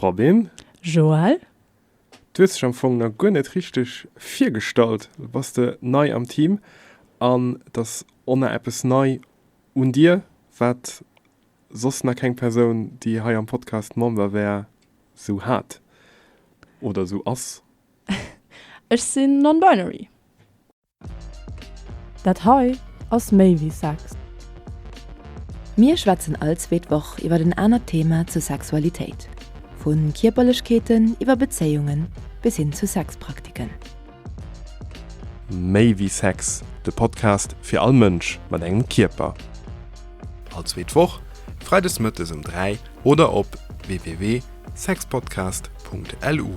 Robin. Joël. Du hues dech am Fong nach guer net richteg virgestallt. Bass de nei am Team an et ass och nach eppes nei un dir, wat soss nach keng Persoun, déi hei am Podcast Member wär, sou hat oder sou ass? Ech sinn non-binary. Dat hei ass méi wéi Sex. Mir schwätzen all zweet Woch iwwert en anert Thema zur Sexualitéit, vu Kierperlechkeeten iwwer Bezéiungen bis hin zu Sexpraktiken. Méi wéi Sex, de Podcast fir all Mënsch mat engem Kierper. All zweet Woch, Freides Mëttes um 3 oder op www.sexpodcast.lu.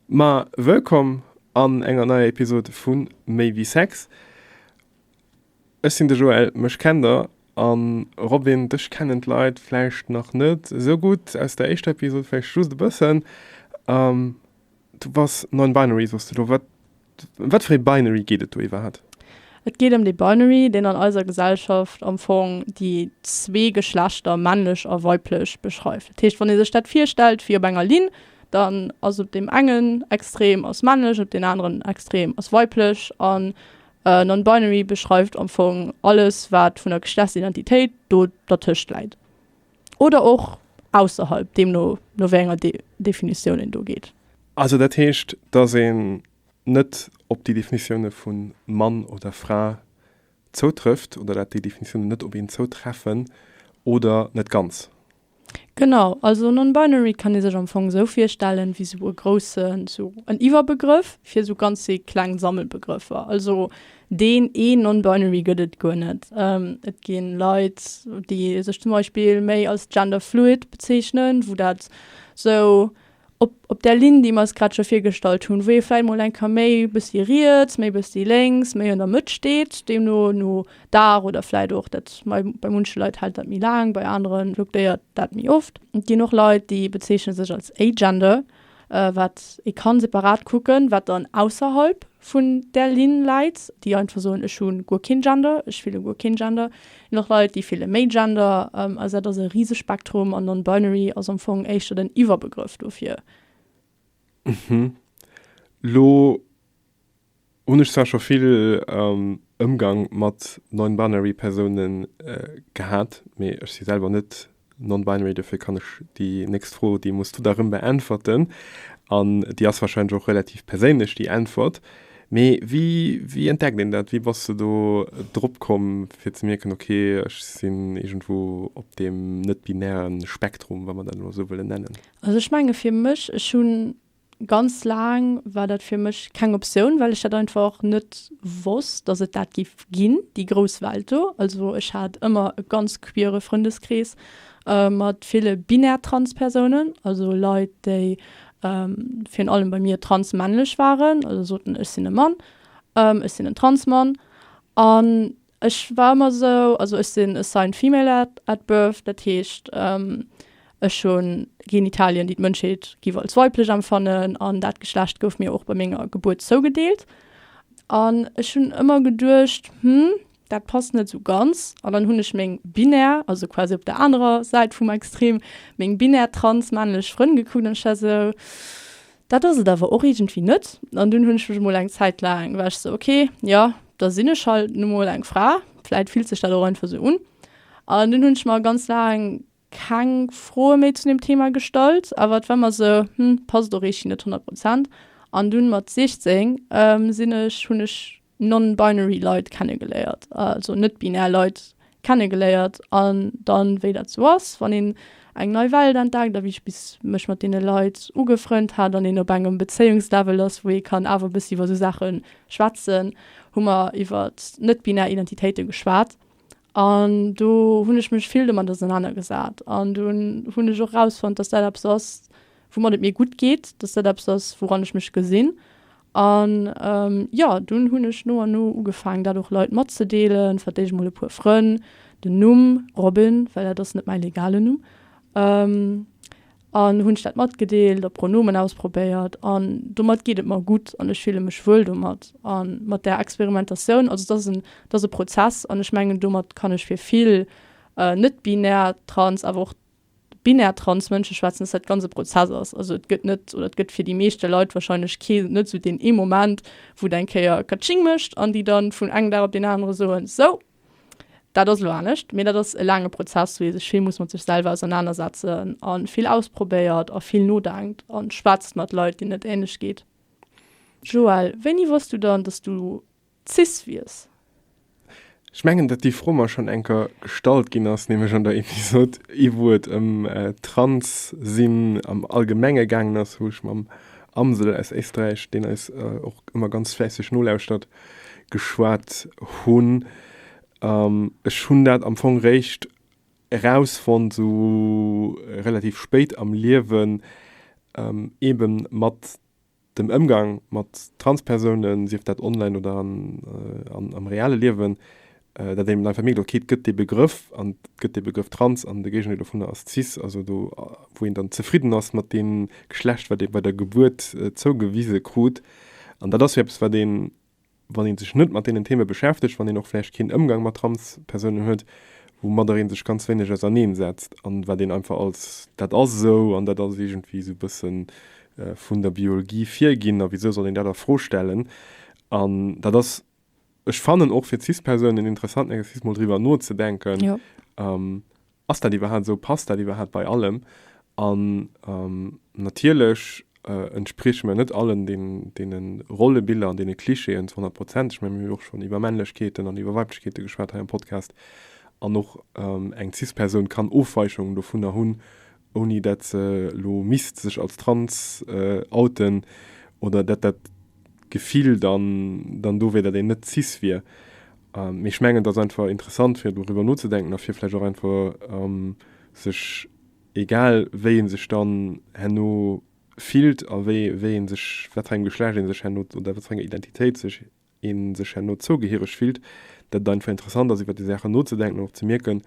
Ma wëllkomm an enger neier Episode vu Maybe Sex. Ech sinn de Joël, mech kennt der, an Robin, dech kennen d'Leit vläicht nach net sou gutt, aus der éischter Episode vläicht just e bëssen. Du bass nonbinary, soss du elo? Wat Ëm wat fir ee Binary geet et do iwwerhaapt? Et geet ëm dee Binary, deen an eiser Gesellschaft am Fong déi zwee Geschlechter, männlech a weiblech, beschreift. Dat heescht, wann ee sech dat virstellt wéi op enger Linn, dann ass op deem engen Extrem ass männlech, op deen aneren Extrem ass weiblech. An Non-Binary beschreift am Fong alles, wat vun der Geschlechtsidentitéit do dertëscht läit. oder och ausserhalb, deemno no wéi enger Definitioun een do geet. Also dat heescht, datt een net op déi Definitioune vu Mann oder Fra zoutrëfft oder dat déi Definitiounen net op een zoutreffen oder net ganz? Genau, also non-binary kann ee sech am Fong esou virstellen wéi esou e groussen, esou en Iwwerbegrëff fir esou ganzéi kleng Sammelbegrëffer. Also Deen ee Non-Binary gëtt et guer net. Et gi Leit, déi sech zum Beispill méi als Gender Fluid bezeechnen, wou dat sou op, op där Linn, déi mer eis grad scho virgestallt hunn, wou ee vläicht mol eng Kéier méi e bëssi riets, méi e bëssi lénks, méi an der Mëtt steet, deemno no Dag oder vläicht och dat mei, bei munche Leit hält dat méi laang, bei anere fluktuéiert dat méi oft. Et ginn och Leit, déi bezeechne sech als Agender. wat ee kann separat kucken, wat dann ausserhalb vun där Linn läit, déi einfach soen, ech hu guer keen Gender, ech fille guer keen Gender, ginn och Leit, déi fille méi Gender. Also dat ass e Risespektrum an non-binary ass am Fong éischter den Iwwerbegrëff dofir. Elo Hun ech zwar scho vill Ëmgang mat non-binary Persounen gehat, mee ech si selwer net non-binary, dofir kann ech déi nächst Fro, déi muss du da rëm beäntwerten, an déi ass wahrscheinlech och relativ perséinlech déi Äntwert, mee wéi wéi entdeckt een dat? Wéi bass de do drop komm fir ze mierken, ok ech sinn iergendwou op deem net-binären Spektrum, wa mer dat elo esou wëllen nennen? Also ech menge fir mech, ech hunn Ganz laang war dat fir mech keng Optioun, well ech dat einfach och net wosst, dass et dat géif ginn, déi grouss Welt do. Also ech hat ëmmer e ganz queere Frëndeskrees mat ville binär trans Persounen, also Leit, déi virun allem bei mir trans männlech waren, also soten, ech sinn e Mann, ech sinn en trans Mann. An Ech war ëmmer esou, also ech sinn assigned female at at birth, dat heescht ech hu Genitalien, déi d'Mënschheet géif als weiblech empfannen, an dat Geschlecht gouf mir och bei menger Gebuert zougedeelt. An ech hunn ëmmer geduecht, hm, dat passt net esou ganz. An dann hunn ech meng binär, also quasi op der anerer Säit vum Extrem, meng binär trans männlech Frënn gekuckt an ech war esou, Dat ass et awer och iergendwéi net. An dunn hunn ech mech emol eng Zäit laang, war ech sou, ok, jo, da sinn ech halt nu mol eng Fra, vläit fillt sech dat och einfach sou un. An dunn hunn ech mer ganz laang keng Froe méi zu deem Thema gestallt, awer et war mer sou, hm, passt och eeschtgi net honnert Prozent. An dunn mat 16 sinn ech, hunn ech non-binary Leit kennegeléiert, also net-binär Leit kennegeléiert an dann, wéi dat sou ass, wann een eng nei Welt entdeckt a wéi ech bis mech mat deene Leit ugefrënnt hat an een op engem Bezéiungslevel ass, wou ee kann awer e bëssi iwwer sou Saache schwätzen, hu mer iwwert net-binär Identitéite geschwat An do hunn ech mech vill domat ausenanergesat. An dunn hunn ech och erausfonnt, datt dat eppes ass, woumat et mir gutt geet, datt dat eppes ass, wouran ech mech gesinn. An jo, dunn hunn ech no an no ugefaangen, dat och Leit matzedeelen, vläicht emol e puer Frënn. Den Numm Robin, well dat ass net mäi legalen Numm. an hunn ech dat matgedeelt a Pronomen ausprobéiert an domat geet et mer gutt an ech fille mech wuel domat a mat där Experimentatioun. Also dat ass en, dat ass e Prozess an ech mengen domat kann ech fir vill net-binär trans, awer och binär trans Mënsche schwätzen, dass dat ganz e Prozess ass. Also et gëtt net oder et gëtt fir déi meeschte Leit warscheinlech kee net esou deen ee Moment, wou et eng Kéier Katsching mécht an déi dann vun engem Dag op deen anere soen, Sou, Dat ass elo anescht, mee dat ass e laange Prozess, wou ee sech vill muss mat sech selwer ausernanersetzen a vill ausprobéiert a vill nodenkt a schwätzt mat Leit, deenen et änlech geet. Joël, wéini wosst du dann, dass du cis wiers? Ech mengen, datt déi Fro mer schonn eng Kéier gestallt ginn ass, nämlech an der Episod, ier wou et ëm trans sinn am Allgemenge gaangen ass, wou ech mam Amsel aus Éisträich, deen eis och ëmmer ganz fläisseg nolauschtert, geschwat hun, an ech hun dat am Fong réischt erausfonnt sou relativ spéit am Liewen, eben mat dem Emgang mat Transpersounen, sief dat online oder am reale Liewen, dat een mat enger Famill do kritt, gëtt dee Begrëff, an et gëtt dee Begrëff trans, an de Géigendeel dovunner ass cis, also do, wou een dann zefridden ass mat deem Geschlecht, wat ee bei der Gebuert zougewise krut. An dat ass jo eppes, wat een, wann ee sech net mat deenen Theme beschäftegt, wann een och vläicht keen Ëmgang mat Transpersounen huet, woumadder ee sech ganz wéineg auserneen setzt a wat een einfach als dat ass esou an dat ass iergendwéi esou e bësse vun der Biolgie virginn a wisou soll een dat a Fro stellen. An dat ass Ech fannen och fir Cis-Persounen interessant enges Cis mol driwwer nozedenken, ass dat iwwerhaapt esou, passt dat iwwerhaapt bei allem? An natierlech entsprieche mer net allen deene Rollebiller an deene Klischeeën zu honnert Prozent. Ech mengen, mir hu jo och schonn iwwer Männlechkeeten an iwwer Weiblechkeete geschwat hei am Podcast an och eng Cis-Persoun kann Ofweichungen dovunner hunn, ouni dat se elo misst sech als trans outen oder dat dat Gefill dann dann do wier, dat een net cis wier. Mee ech mengen, et ass einfach interessant, fir doriwwer nozedenken a fir vläicht och einfach sech, egal wéi ee sech dann herno fillt a wéi wéi ee sech, wat fir engem Geschlecht ee sech herno oder wat fir enger Identitéit sech een sech herno zougehiereg fillt, dat et einfach interessant ass iwwer déi Saachen nozedenken an och ze mierken,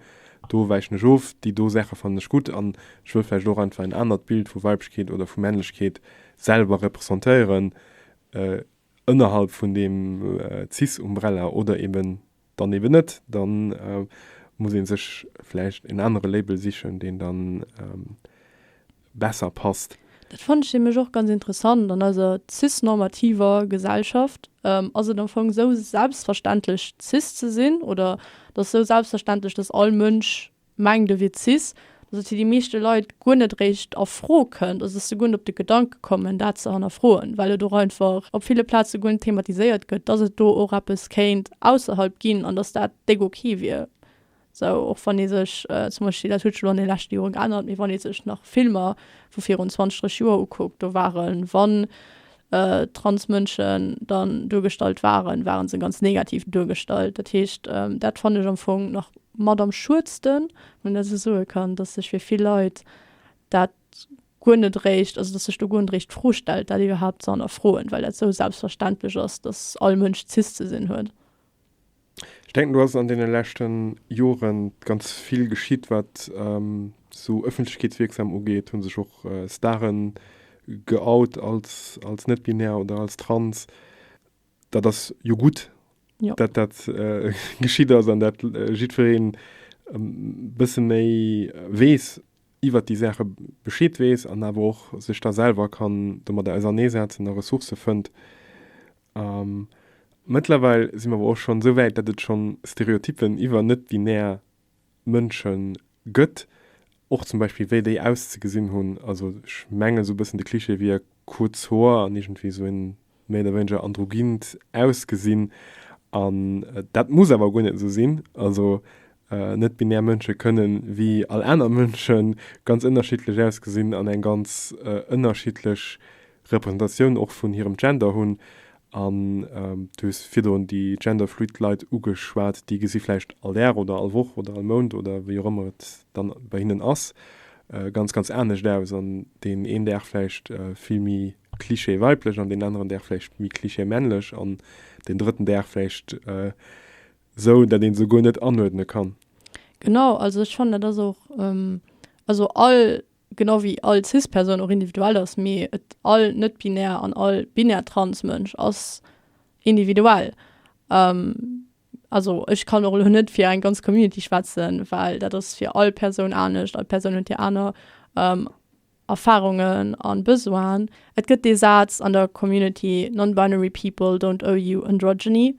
do wäichen ech of, déi do Saache fannen ech gutt an ech wëll vläicht och einfach en anert Bild vu Weiblechkeet oder vu Männlechkeet selwer representéieren ënnerhalb vun deem cis-Umbrella oder eben dann eben net, dann muss een sech vläicht een anere Label sichen, deen dann besser passt. Dat fannen ech nämlech och ganz interessant, an eiser cis-normativer Gesellschaft ass et am Fong esou selbstverständlech cis ze sinn, oder et ass esou selbstverständlech, dass all Mënsch mengt de Witzis, dass et fir déi meeschte Leit guer net eréischt a Fro kënnt, also dass se guer net op de Gedanke kommen, dat ze hannerfroen, well et och einfach op ville Plaze guer net thematiséiert gëtt, dass et do och eppes kéint ausserhalb ginn an dass dat déck ok wier. Esou och wann ee sech zum Beispill, dat huet sech elo an de leschte Jore geännert, mee wann ee sech nach Filmer vu virun zwanzeg, dräisseg Joer ukuckt, do ware wann Transmënschen dann duergestallt waren, ware se ganz negativ duergestallt. Dat heescht, dat fannen ech am Fong nach mat am schuedsten, wann een dat esou soe kann, datt sech fir vill Leit dat guer net eréischt, also datt sech do guer net eréischt d'Fro stellt, dat iwwerhaapt ze hannerfroen, well dat esou selbstverständlech ass, datt all Mënsch cis ze sinn huet. Ech denken, do ass an deene leschte Jore ganz vill geschitt, wat esou ëffentlechkeetswierksam ugeet. Hu sech och Stare geout als net-binär oder als trans. Dat ass jo gutt, datt dat geschitt ass an datt jiddweree e bësse méi weess, iwwer déi Saache Bescheed weess an awer och sech da selwer kann domadder auserneesetzen a Ressourcë fënnt, A mëttlerweil si mer awer och schonn esou wäit, datt et schonn Stereotyppen iwwer net-binär Mënsche gëtt, och zum Beispill wéi déi auszegesinn hunn. Also ech mengen, esou e bëssen de Cliché wier kuerz Hoer an iergendwéi esou e méi oder wéineger androgynt Ausgesinn. An dat muss awer guer net esou sinn. Also net-binär Mënsche kënne wéi all aner Mënsche ganz ënnerschiddlech ausgesinn an eng ganz ënnerschiddlech Repräsentatioun och vun hirem Gender hunn, an du hues virdrun déi genderfluid Leit ugeschwat, déi gesi vläicht all Dag oder all Woch oder all Mount oder wéi och ëmmer et dann bei hinnen ass, ganz, ganz anescht aus an deen een Dag vläicht vill méi Klischee weiblech an deen aneren Dag vläicht méi Klischee männlech an deen drëtten Dag vläicht esou, dat een se guer net anuerdne kann. Genau, also ech fannen dat ass och, also all genau wéi all Cis-Persoun och individuell ass, mee et all net-binär an all binär Trans-Mënsch ass individuell. Also ech kann och elo net fir eng ganz Community schwätzen, well dat ass fir all Persoun anescht, all Persoun huet hir aner Erfarungen a Besoinen. Et gëtt dee Saz an der Community, Non-binary people don't owe you androgyny,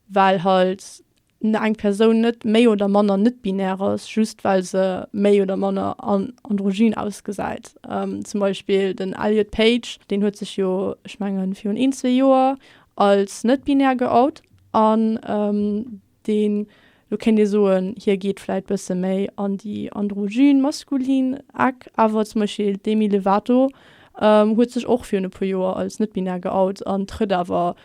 well halt eng Persoun net méi oder manner net-binär ass, just well se méi oder manner androgyn ausgesäit. Zum Beispill den Elliot Page, deen huet sech jo, ech mengen, virun een, zwee Joer als net-binär geout an deen, lo kéint ee soen, hie geet vläit bësse méi an déi androgyn, maskulin Eck. Awer zum Beispill d'Demi Lovato huet sech och virun e puer Joer als net-binär geout an trëtt awer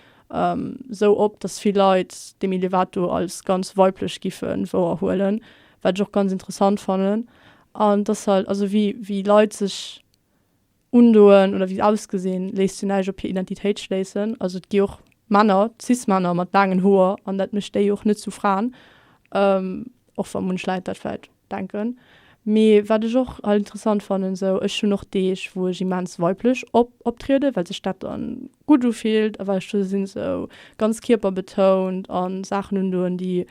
esou op, dass vill Leit dem Elevator als ganz weiblech giffen wouerhuelen, wat ech och ganz interessant fannen, an dass halt, also wéi wéi Leit sech undoen oder wéi se ausgesinn, léisst jo näischt op hir Identitéit schléissen, also et gi och Männer, cis Männer mat laangen Hoer, an dat mécht déi jo och net zu Fraen, och wa munch Leit dat vläit. Denken. Mee wat ech och alt interessant fannen sou, ech hunn och Deeg wou ech immens weiblech optrieden, well sech dat dann gutt ufillt a well ech do sinn sou ganz kierperbetount an Saachen undoen déi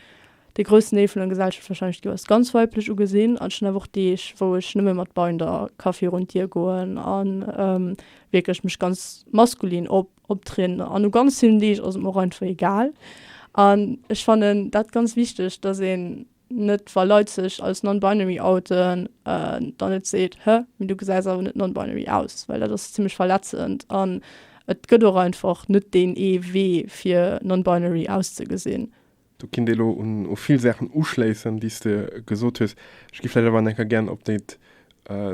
de groussen Deel vun der Gesellschaft wahrscheinlech do als ganz weiblech ugesinn. An ech hunn awer och Deeg wou ech nëmme mat Binder ka virun d'Dier goen an wierklech mech ganz maskulin optrieden an u ganz villen Deeg ass et mer och einfach egal. An ech fannen dat ganz wichteg dass een net wa Leit sech als non-binary outen, dann net seet, hä, mee du gesäis awer net non-binary aus, well dat ass zimlech verletzend an et gëtt och einfach net deen ee Wee fir non-binary auszegesinn. Do kinnt ee lo u vill Saachen uschléissen, déi s de gesot hues. Ech gi vläicht awer nach eng Kéier gär op dat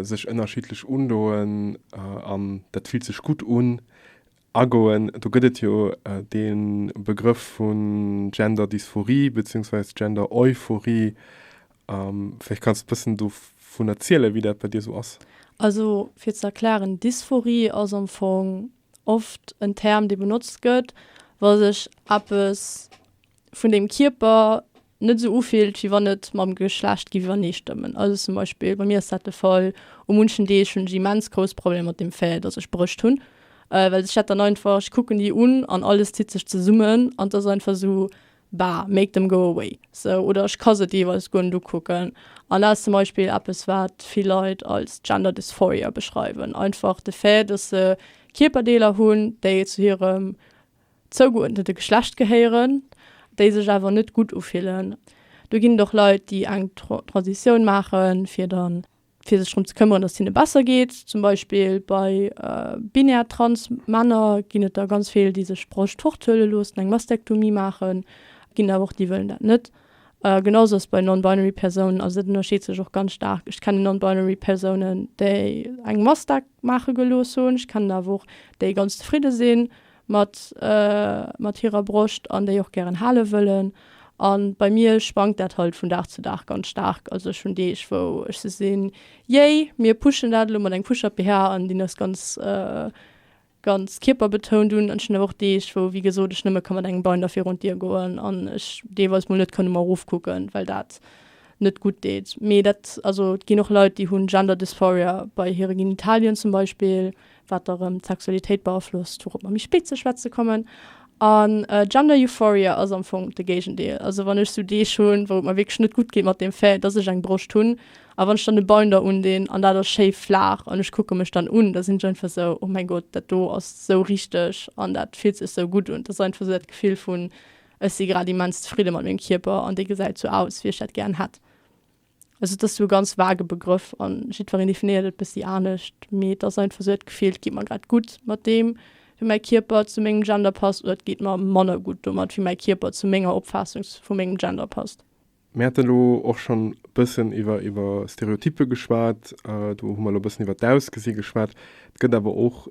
sech ënnerschiddlech undoen an dat fillt sech gutt un agoen, do gëtt et jo dee Begrëff vu Gender-Dysphorie beziehungsweise Gender-Euphorie. Vläicht kanns de e bëssen dovun erzielen, wéi dat bei dir esou ass. Also fir ze erklären, Dysphorie ass am Fong oft en Term, dee benotzt gëtt, wa sech eppes. vun dem Kierper net esou ufillt, wéi wann et mam Geschlecht géif iwwerneestëmmen. Also zum Beispill, bei mir ass dat de Fall, u munchen Deeg hunn ech immens grouss Problemer mat dem Fait, datt ech Brëscht hunn, well sech dat dann einfach, ech kucken déi un an alles zitt sech zesummen an et ass einfach esou, Bah, make them go away. Sou, oder ech ka se deelweis guer net ukucken. An dat ass zum Beispill eppes, wat vill Leit als Gender Dysphoria beschreiwen, einfach de Fait, datt se Kierperdeeler hunn, déi zu hirem zougeurdnete Geschlecht gehéieren, déi sech awer net gutt ufillen. Do ginn et och Leit, déi eng Transitioun maachen, fir dann fir sech drëm ze këmmeren, datt et hinne besser geet. Zum Beispill bei binär trans Männer ginn et der ganz vill, déi sech d'Broscht fort huele loossen, eng Mastektomie maachen. Et ginn der awer och, déi wëllen dat net. Genau sou ass et bei non-binary Persounen. Also dat ënnerscheet sech och ganz staark. Ech kennen non-binary Persounen, déi eng Mastek maache gelooss hunn. Ech kennen awer och, déi ganz zefridde sinn. mat mat hirer Broscht an déi och gären hale wëllen an bei mir schwankt dat halt vun Dag zu Dag ganz staark, also ech hunn Deeg wou ech sou sinn yay mir pushen dat elo mat engem Push-Up BH an deen ass ganz ganz kierperbetount un an ech hunn awer och Deeg wou wéi gesot ech nëmme ka mat engem Binder virun d'Dier goen an ech deelweis mol net kann um erof kucken well dat net gutt deet mee dat also et ginn och Leit déi hunn Gender Dysphoria bei hire Genitalien zum Beispill wat da rëm d'Sexualitéit beaflosst, wouropp mer méi spéit ze schwätze kommen. An Gender Euphoria ass am Fong de Géigendeel. Also wann ech sou Deeg hunn, wou et mer wierklech net gutt geet mat dem Fait, dass ech eng Broscht hunn, a wann ech dann e Binder undinn an dat ass schéi flaach an ech kucke mech dann un, da sinn ech einfach esou, oh mäin Gott, dat do ass esou richteg an dat fillt sech esou gutt un. Dat ass einfach esou dat Gefill vun, ech si grad immens zefridde mat mengem Kierper an dee gesäit esou aus, wéi ech dat gären hätt. Also et ass esou e ganz vage Begrëff an jiddwereen definéiert et bessi anescht. Mee et ass einfach esou dat Gefill, et geet mer grad gutt mat deem, wéi mäi Kierper zu mengem Gender passt, oder et geet mer manner gutt domat, wéi mäi Kierper zu menger Opfaassung vu mengem Gender passt. Mir haten elo och schonn e bëssen iwwer iwwer Stereotyppe geschwat. Do hu mer elo e bëssen iwwer d'Ausgesi geschwat. Et gëtt awer och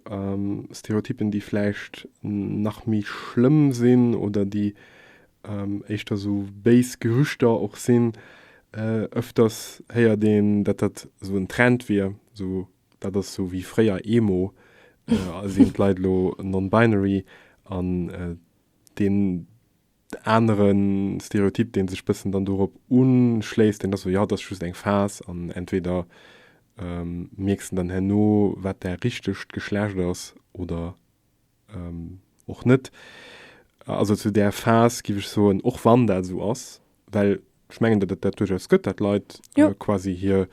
Stereotyppen, déi vläicht nach méi schlëmm sinn oder déi éischter esou béis Gerüchter och sinn, öfters héiert een, datt dat esou en Trend wier, esou dat ass esou wéi fréier Emo, sinn d'Leit elo non-binary an deen anere Stereotyp, dee sech bëssen dann dorop unschléisst, deen ass esou, jo, dat ass just eng Phas an entweder mierks de dann herno, wat däi richtegt Geschlecht ass oder och net, also zu där Phas, giff ech soen, och wann dat esou ass, well ech mengen, datt et dat duerchaus gëtt, datt Leit quasi hir,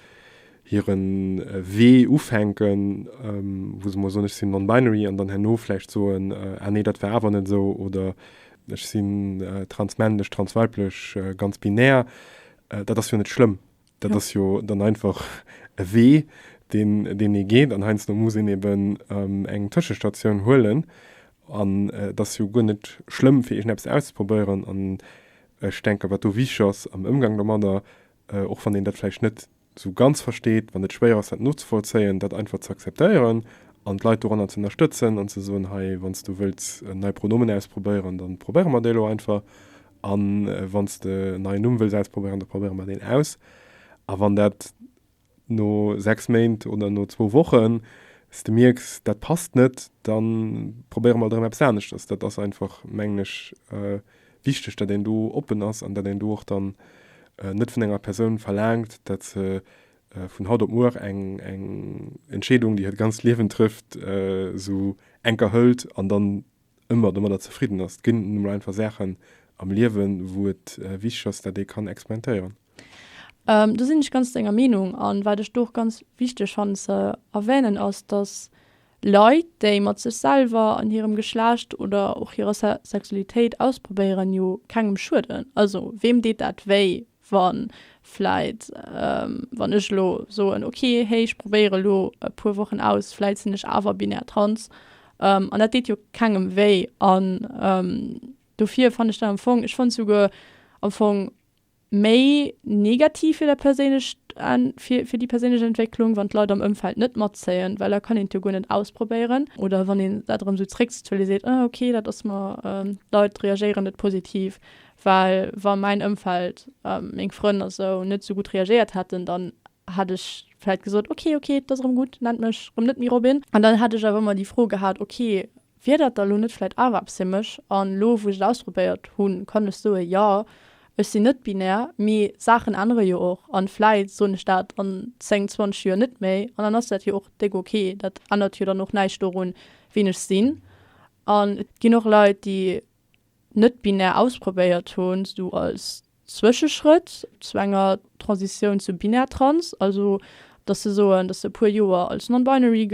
hire Wee ufänken, wou se mol soen, ech sinn non-binary, an dann herno vläicht soen, ah nee, dat war awer net esou, oder ech sinn transmännlech, transweiblech, ganz binär. Dat ass jo net schlëmm. Dat ass jo dann einfach e Wee, deen, deen ee geet. An heiansdo muss een eben eng Tëschestatioun huelen. An et ass jo guer net schlëmm, fir iergendeppes auszeprobéieren. An ech denken, wat do wichteg ass am Ëmgang domadder, och wann een dat vläicht net esou ganz versteet, wann et schwéier ass, dat nozevollzéien, dat einfach ze akzeptéieren an d'Leit doranner ze ënnerstëtzen an ze soen, Hei, wann s du wëlls nei Pronomen ausprobéieren, da probéiere mer déi elo einfach. A wann s de en neien Numm wëlls ausprobéieren, da probéiere mer deen aus. A wann dat no sechs Méint oder no zwou Wochen, s de mierks, dat passt net, da probéiere mer alt erëm eppes aneschters. Dat ass einfach, mengen ech, wichteg, datt een do oppen ass an datt een do och dann net vun enger Persoun verlaangt, datt se vun haut op muer eng Entscheedung, déi hiert ganzt Liewen trëfft, esou enker hëlt an dann ëmmer domadder zefridden ass. Et ginn nun emol einfach Saachen am Liewen, wou et wichteg ass, dat ee kann experimentéieren. Do sinn ech ganz denger Meenung. An wat ech do och ganz wichteg fannen ze erwänen ass, dass Leit, déi mat sech selwer an hirem Geschlecht oder och hirer Sexualitéit ausprobéieren, jo kengem schueden. Also weem deet dat wéi? wann vläit, wann ech elo soen, ok, hey, ech probéiere lo e puer Wochen aus, vläit sinn ech awer binär trans, an dat deet jo kengem wéi. An dofir fannt ech dat am Fong, ech fonnt souguer am Fong méi negativ fir dat perséinlecht, fir déi perséinlech Entwécklung, wann d'Leit am Ëmfeld net matzéien, well da kann een et jo guer net ausprobéieren. Oder wann een dat erëm esou zréckzuelen, seet, ah, ok, dat ass mer, d'Leit reagéieren net positiv, Well wa mäin Ëmfeld, meng Frënn a sou, net sou gutt reagéiert hätten, dann hätt ech vläit gesot, ok, ok, et ass erëm gutt, nennt mech erëm net méi Robin. An dann hätt ech awer ëmmer déi Fro gehat, ok, wier dat da lo net vläit awer eppes fir mech? An elo, wou ech et ausprobéiert hunn, kann ech soen, jo, ech sinn net binär, mee Saachen ännere jo och. An vläit soen ech dat an zéng, zwanzeg Joer net méi an dann ass dat jo och déck ok. Dat ännert jo dann och näischt dorun, wien ech sinn. An et ginn och Leit, déi. net-binär ausprobéiert hunn, esou als Zwëscheschrëtt zu enger Transitioun zu binär-trans, also dass se soen, dass se e puer Joer als non-binary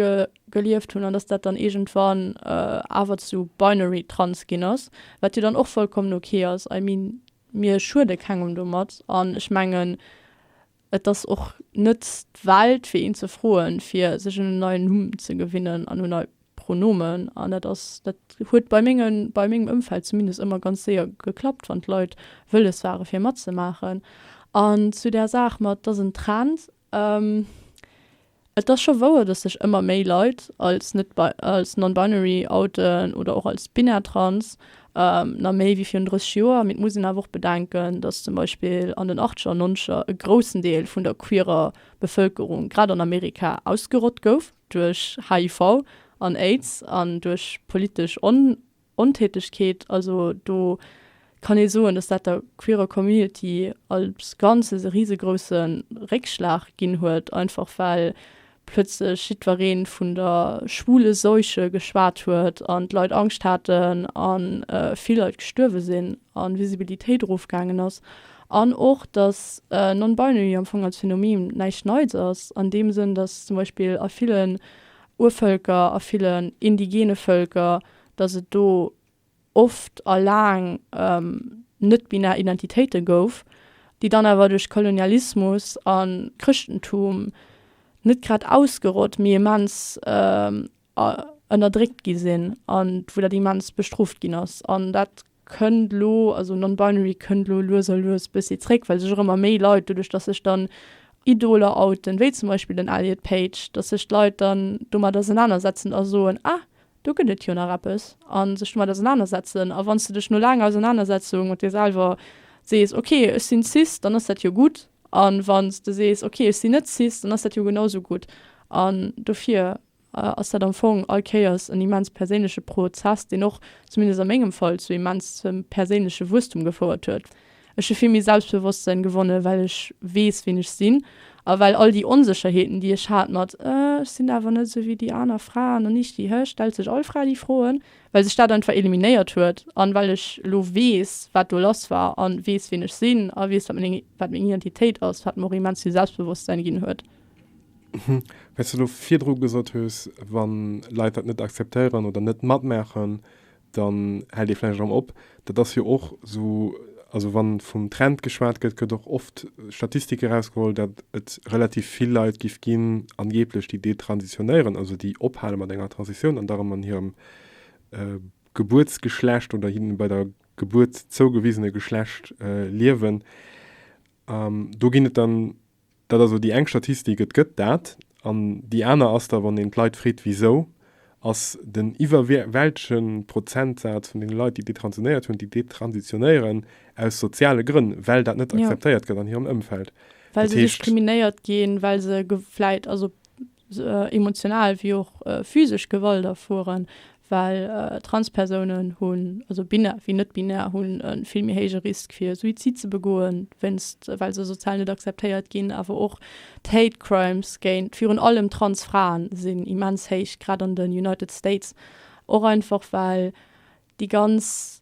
gelieft hunn an dass dat dann iergendwann awer zu binary-trans ginn ass, wat jo dann och vollkommen okay ass. I mean, mir schuede kengem domat an ech mengen, Et ass och net d'Welt fir een ze froen, fir sech un en neien Numm ze gewinnen an un nei Pronomen. An dat ass, dat huet bei menge, bei mengem Ëmfeld zumindest ëmmer ganz séier geklappt, wann d'Leit wëlles ware fir matzemaachen. An zu där Saach mat, 't ass en Trend, Et ass scho wouer, dass sech ëmmer méi Leit als als non-binary outen oder och als binär, trans, na méi wéi virun 30 Joer. Mee et muss een awer och bedenken, dass zum Beispill an den Achtzeger an Nonzeger e groussen Deel vun der queerer Bevëlkerung, grad an Amerika, ausgerott gouf duerch HIV an Aids an duerch politesch Ontätegkeet, also do kann ee soen, datt dat der queerer Community als Ganzes e risegrousse Réckschlag ginn huet, einfach well plötzlech jiddweree vun der schwule Seuche geschwat huet an d'Leit Angscht haten a vill Leit gestuerwe sinn an d'Visibilitéit erofgaangen ass. An och, datt non-binary am Fong als Phänomen näischt Neits ass an deem Sënn, datt zum Beispill a villen Urvëlker, a villen indigene Vëlker, dass et do oft a laang net-binär Identitéite gouf, déi dann awer duerch Kolonialismus a Chrëschtentum net grad ausgerott, mee immens ënnerdréckt gi sinn a wou dat immens bestrooft ginn ass. An dat kënnt elo, also non-binary kënnt elo lues a lues e bëssi zréck, well sech och ëmmer méi Leit, doduerch dass sech dann Idoler outen, wéi zum Beispill den Elliot Page, dass sech d'Leit dann domat ausenanersetzen a soen, ah, Do gëtt et jo nach eppes. A sech domat ausenanersetzen. A wann s de dech no laanger Ausenanersetzung mat dir selwer sees, ok, ech sinn cis, dann ass dat jo gutt. A wann s de sees, ok, ech sinn net cis, dann ass dat jo genau esou gutt. An dofir ass dat am Fong all Kéiers en immens perséinleche Pro zess, deen och, zumindest a mengem Fall, zu immensem perséinleche Wuesstum gefouert huet. Ech hu vill méi Selbstbewosstsënn gewonne well ech weess ween ech sinn a well all déi Onsécherheeten déi ech hat mat ech sinn awer net esou wéi déi aner Fraen an ich die Hölle stellt sech all Fra déi Froen well sech dat einfach eliminéiert huet an well ech lo weess wat do lass war an weess ween ech sinn a weess wat meng wat meng Identitéit ass wat mer och immens vill Selbstbewosstsän ginn huet. Well s de lo virdru gesot hues wann Leit dat net akzeptéieren oder net matmaachen dann hält ee vläicht erëm op. Dat ass jo och esou, also wann vum Trend geschwat gëtt, gëtt och oft Statistik erausgeholl, datt et relativ vill Leit giff ginn, angeeblech, déi detransitionéieren, also déi ophale mat enger Transitioun an da erëm an hirem Gebuertsgeschlecht oder hinne bei der Gebuert zougewisene Geschlecht liewen. Do ginn et dann Dat ass elo déi eng Statistik, et gëtt dat. An déi aner ass da, wann een d'Leit freet, wisou, ass den iwwerwältege Prozentsaz vun deene Leit, déi detransionéiert hunn, déi detransitionéieren aus soziale Grënn, well dat net akzeptéiert gëtt an hirem Ëmfeld. Well se diskriminéiert ginn, well se vläicht, also emotional wéi och physesch Gewalt erfueren, well Transpersounen hunn, also binär wéi net-binär, hunn e vill méi héije Risk fir Suizid ze begoen, wéinst well se sozial net akzeptéiert ginn. Awer och d'Hate Crimes géint virun allem trans Fraen sinn immens héich, grad an den United States, och einfach well déi ganz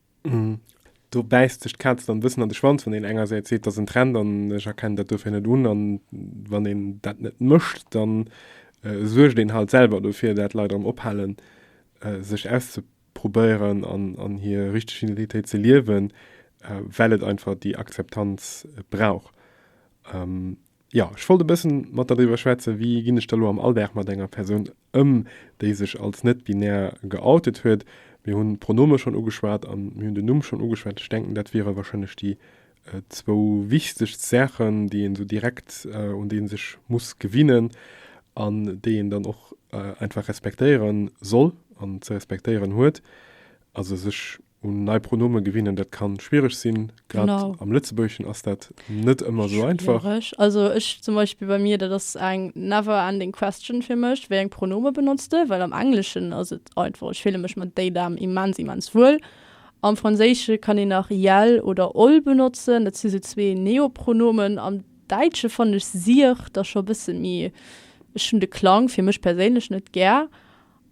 Do bäisst sech d'Kaz dann e bëssen an de Schwanz, wann een engersäits seet, dat ass en Trend an ech erkennen dat dofir net un. An wann een dat net mécht, da suergt een halt selwer dofir, dat Leit erëm ophalen, sech auszeprobéieren an hir richteg Identitéit ze liewen, well et einfach déi Akzeptanz brauch. Jo, ech wollt e bëssen mat der driwwer schwätzen, wéi ginn ech da elo am Alldag mat enger Persoun Ëm, déi sech als net-binär geoutet huet. Mir hunn d'Pronome schonn ugeschwat a mir hunn den Numm schonn ugeschwat. Ech denken, dat wiere warscheinlech déi zwou wichtegst Saachen, déi een esou direkt, un déi ee sech muss gewinnen an déi een dann och einfach respektéiere soll an ze respektéieren huet. Also sech Un nei Pronome gewinnen, dat ka schwiereg sinn. Grad am Lëtzebuergeschen ass dat net ëmmer esou einfach. Schwiereg. Also ech zum Beispill, bei mir, dat ass eng never ending question fir mech, wéi eng Pronome benotzt de? Well am Engleschen ass et einfach, ech fille mech mat they, them immens, immens wuel. Am Franséische kann een nach iel oder ol benotzen, dat si sou zwee Neopronomen. Am Däitsche fannen ech siech da scho e bësse méi, ech hunn de Klang fir mech perséinlech net gär.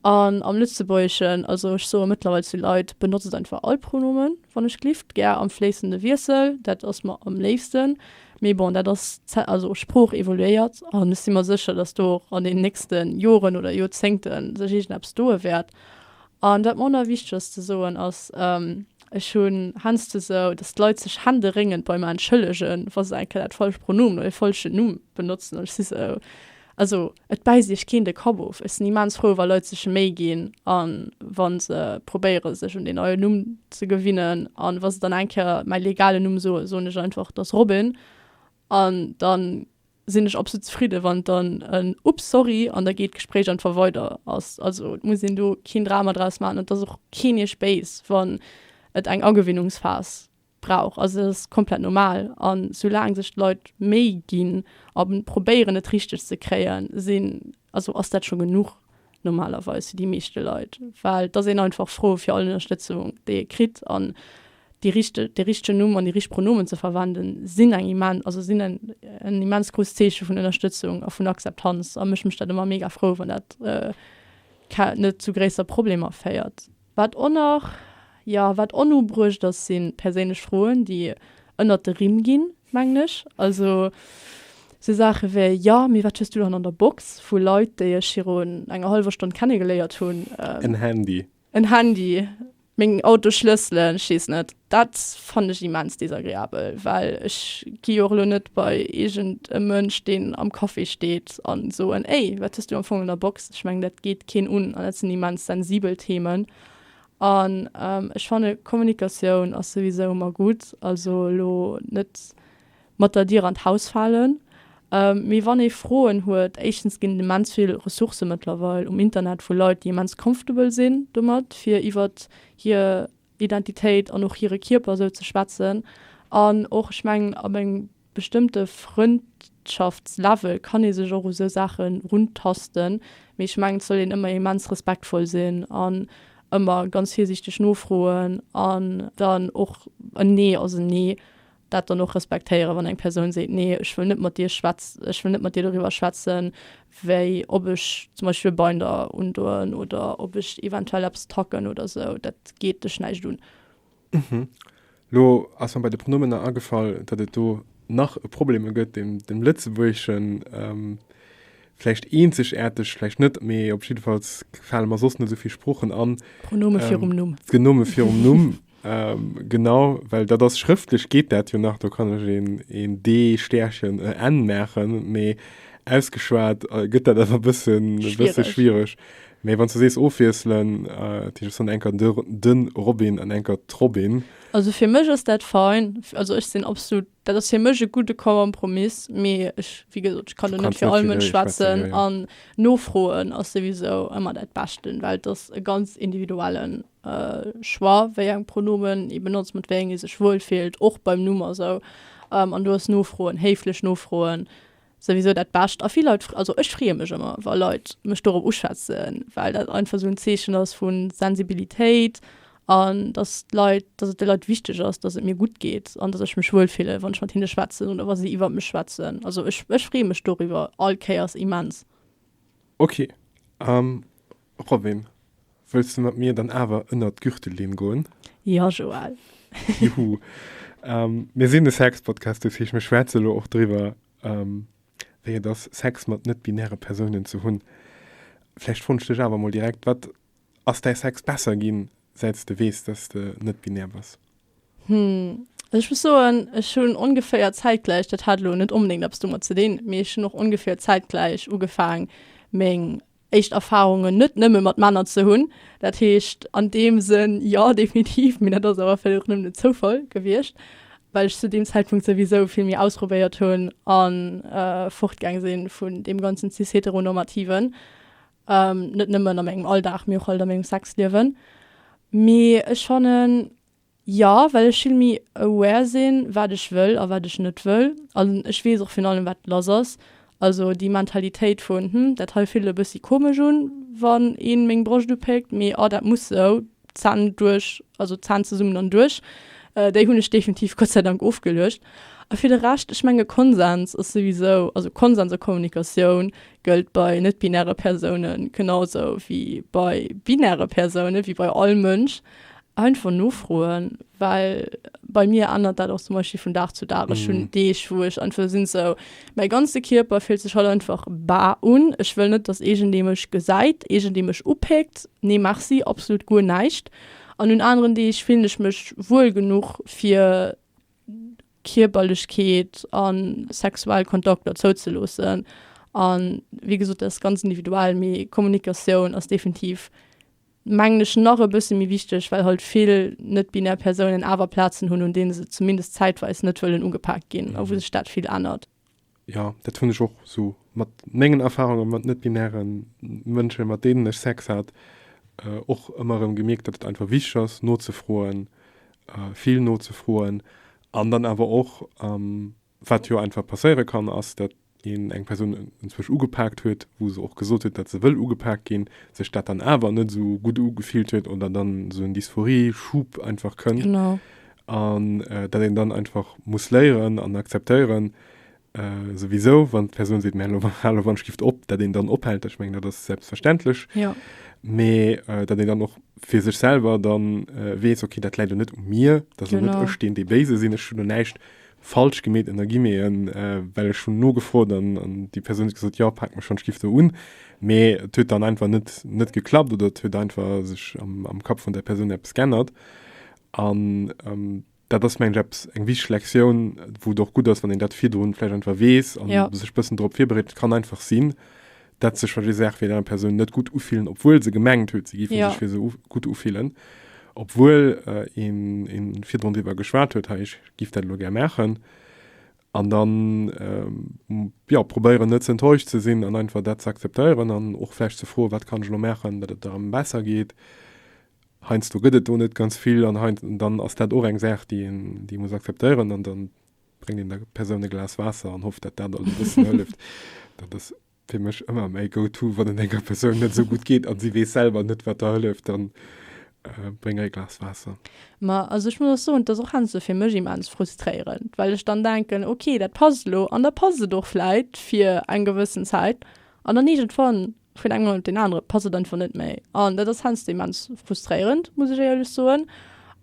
An am Lëtzebuergeschen, also ech soe mëttlerweil zu Leit, benotzet einfach all Pronomen, wann ech glift, gär am fléissende Wiessel, dat ass mer am léifsten. Mee bon, dat ass d'Zä-, also d'Sprooch evoluéiert an ech si mer sécher, dass do och an den nächste Joren oder Joerzéngte sech iergendeppes doe wäert. An dat mer och nach wichteg ass ze soen ass, ech hunn heiansdo esou, dass d'Leit sech händeréngend bei mer entschëllegen, wa se eng Kéier dat falscht Pronomen oder dee falschen Numm benotzen an ech si esou, Also, et bäisst Iech keen de Kapp of. Ech sinn immens frou, wa Leit sech Méi ginn a wa se probéiere sech un deen neien Numm ze gewinnen. An wa se dann eng Kéier mäi legalen Numm soen, soen ech einfach, et ass Robin. An da sinn ech absolut zefridden, wann et dann en Ups, sorry an da geet d'Gespréich einfach weider ass. Also, et muss een do keen Drama draus maachen. Et ass och keen Iech béis, wann et eng Agewinnungsphas brauch. Also dat ass komplett normal. A soulaang sech d'Leit Méi ginn a probéieren et richteg ze kréien, sinn, also ass dat scho genuch normalerweis fir déi meeschte Leit. Well et ass een einfach frou fir all Ënnerstëtzung déi ee kritt. An déi richteg, de richtegen Numm an déi richteg Pronomen ze verwenden, sinn eng immen, also sinn en en immens grousst Zeeche vun Ënnerstëtzung a vun Akzeptanz. A mech mécht dat ëmmer mega frou, wann dat ke net zu gréisser Problemer féiert. Wat och nach, jo, wat onubruecht ass, si perséinlech Froen, déi ënnert de Rimm ginn, mengen ech. Also sou Saache wéi, Jo, mee wat hues du dann an der Box? vu Leit, déi ech virun enger hallwer Stonn kennegeléiert hunn. En Handy. En Handy, meng Autosschlësselen, ech weess net. Dat fannen ech immens desagreabel, well ech gi jo och elo net bei iergend e Mënsch, deen am Café steet, a soen, Ey, wat hues du am Fong an der Box? Ech mengen, dat geet keen un an dat sinn immens sensibel Themen. An ech fanne Kommunikatioun ass souwisou ëmmer gutt, also elo net mat der Dier an d'Haus falen, mee wann ee Froen huet, éischtens ginn et immens vill Ressourcë mëttlerweil um Internet vu Leit, déi immens comfortable sinn domat, fir iwwert hir Identitéit an och hire Kierper esou ze schwätzen. An och, ech mengen, ab engem bestëmmte Frëndschaftslevel kann ee sech och u sou Saache runtasten. Mee ech mengen, et soll een ëmmer immens respektvoll sinn an ëmmer ganz virsiichteg nofroen an dann och en Nee ass en Nee. Dat dann och respektéieren, wann eng Persoun seet, nee ech wëll net mat dir schwätz, ech wëll net mat dir doriwwer schwätzen, wéi, ob ech zum Beispill Binder undoen oder ob ech eventuell eppes tacken oder esou, dat geet dech näischt un. Hm, lo ass mer bei de Pronomener agefall, datt et do nach e Probleme gëtt, deen dem Lëtzebuergeschen vläicht eenzegaarteg, vläicht net, mee op jiddefalls fale mer soss net esou vill Sproochen an. Pronome virum Numm. D'Genome virum Numm. Ähm, genau, well dat ass schrëftlech geet dat jo nach, do kann ech een, een D, Stäerchen, e N maachen, mee ausgeschwat gëtt dat awer e bësse, e bësse schwiereg. Mee wann s du sees ofwiesselen, dat heescht, ech soen eng Kéier de, de Robin an eng Kéier d'Robin. Also fir mech ass dat fein, also ech sinn absolut, dat ass fir mech e gudde Kompromiss, mee ech, wéi gesot, ech kann do net fir all Mënsch schwätzen an nofroen ass souwisou ëmmer dat Beschten, well et ass e ganz individuellen. Choix, wéi eng Pronomen ee benotzt, mat wéi engen ee sech wuel fillt, och beim Numm a sou. An do ass nofroen, héiflech nofroen, souwisou dat Bescht. A vill Leit, also ech freeë mech ëmmer, wa Leit mech dorop uschwätzen, well dat einfach esou en Zeechen ass vu Sensibilitéit an dass d'Leit, dass et de Leit wichteg ass, dass et mir gutt geet an dass ech mech wuel fillen, wann ech mat hinne schwätzen oder wa si iwwer mech schwätzen. Also ech, ech freeë mech doriwwer all Kéiers immens. Ok. Robin, wëlls de mat mir dann awer ënnert d'Gürtellinn goen? Ja, Joël. Juhu! Mir sinn e Sex-Podcast, dat heescht, mir schwätze lo och driwwer, wéi et ass, Sex mat net-binäre Persounen ze hunn. Vläicht froen ech dech awer emol direkt, Wat ass däi Sex besser ginn, säit s de weess, datt s de net-binär bass? Hm, ech muss soen, ech hunn ongeféier zäitgläich, dat hat elo net onbedéngt eppes domat ze dinn, mee ech hunn och ongeféier zäitgläich ugefaang, meng éischt Erfarungen net nëmme mat Männer ze hunn. Dat heescht an deem Sënn jo definitiv, mee dat ass awer vläicht och nëmmen e Zoufall gewiescht, well ech zu deem Zäitpunkt souwisou vill méi ausprobéiert hunn a fortgaang si vun deem ganzen cis-heteronormativen, net nëmmen a mengem Alldag, mee och halt a mengem Sexliewen. Mee ech fannen. Jo, well ech vill méi aware sinn, wat ech wëll a wat ech net wëll. An ech weess och virun allem, wat lass ass. Also déi Mentalitéit vun, hm, dat hei fillt e bëssi komesch un, wann ee meng Broscht upéckt, mee ah, dat muss sou, Zänn duerch, also Zänn zesummen an duerch, déi hunn ech definitiv Gott sei Dank ofgeluecht. A fir de Rescht, ech menge Konsens ass souwisou, also Konsens a Kommunikatioun gëllt bei net-binäre Persounen genau esou wéi bei binäre Persounen, wéi bei all Mënsch. Einfach nofroen, well bei mir ännert dat och zum Beispill vun Dag zu Dag. Ech hunn Deeg, wou ech einfach sinn esou, mäi ganze Kierper fillt sech haut einfach bar un. Ech wëll net, datt iergendee mech gesäit, iergendee mech upéckt. Nee merci, absolut guer näischt. An un aneren Deeg fillen ech mech wuel genuch, fir Kierperlechkeet a sexuell Kontakter zouzeloossen. A wéi gesot, dat ass ganz individuell, mee Kommunikatioun ass definitiv. mengen ech, nach e bësse méi wichteg, well halt vill net-binär Persounen awer Plazen hunn, un deene se zumindest zäitweis net wëllen ugepaakt ginn a wou sech dat vill ännert. Jo, dat hunn ech och esou mat mengen Erfarunge mat net-binäre Mënschen, mat deenen ech Sex hat, och ëmmer erëm gemierkt, datt et einfach wichteg ass nozefroen, vill nozefroen an dann awer och, Wat jo einfach passéiere kann, ass, datt een eng Persoun enzwousch ugepaakt huet, wou se och gesot huet, datt se wëll ugepaakt ginn, sech dat dann awer net esou gutt ugefillt huet oder dann esou en Dysphorie-Schub einfach kënn. Genau. An datt een dann einfach muss léieren an akzeptéieren, souwisou, wann d'Persoun seet, mä elo, hal elo Handschrift op, datt een dann ophält. Ech mengen, dat ass selbstverständlech. Jo. Mä datt een dann och fir sech selwer dann weess, okay, dat läit elo net u mir, dat ass elo net ech, deen dee Béise sinn, ech hunn elo näischt falsch gemeet ënnergimeen, well ech hunn nogefrot an déi Persoun huet gesot, jo, paak mech schonn, ech giff do un. Mee et huet dann einfach net net geklappt oder et huet einfach sech am am Kapp vun där Persoun eppes g'ännert. An dat ass mengen ech eppes eng wichteg Lektioun, wou et och gutt ass, wann een dat virdrun vläicht einfach weess an sech e bëssen drop virbereet. Et kann einfach sinn, dat sech fir déi Saach fir déi aner Persoun net gutt ufillen, obwuel se gemengt huet, se géif ja. sech fir se gutt ufillen. Obwuel äh, een, een virdrun iwwer geschwat huet, hey, ich gif dat lo ger machen. An dann ähm, ja, probéieren net ze enttäuscht ze sinn an einfach dat ze akzeptéieren an och flecht ze froen, wat kann ich lo machen, dat et am besser geht. Heinz du gëtt et do net ganz vill an Heinz, dann ass dat och eng Saach, die, die muss akzeptéieren an dann bréngt een der Persoun e Glas Waasser an hofft, datt dat e bëssen hëlleft. Dat ass fir mech ëmmer mäi Go-to, wann et enger Persoun net esou gutt geet an si weess selwer net, wat der hëlleft, dann bréng hir e Glas Waasser. Ma also ech muss och soen, et ass och heiansdo esou fir mech immens frustréierend, well ech dann denken, ok, dat passt elo an da passt et och vläit fir eng gewëssen Zäit an dann iergendwann vun engem Mount op deen anere passt et einfach net méi an dat ass heiansdo immens frustréierend, muss ech éierlech soen.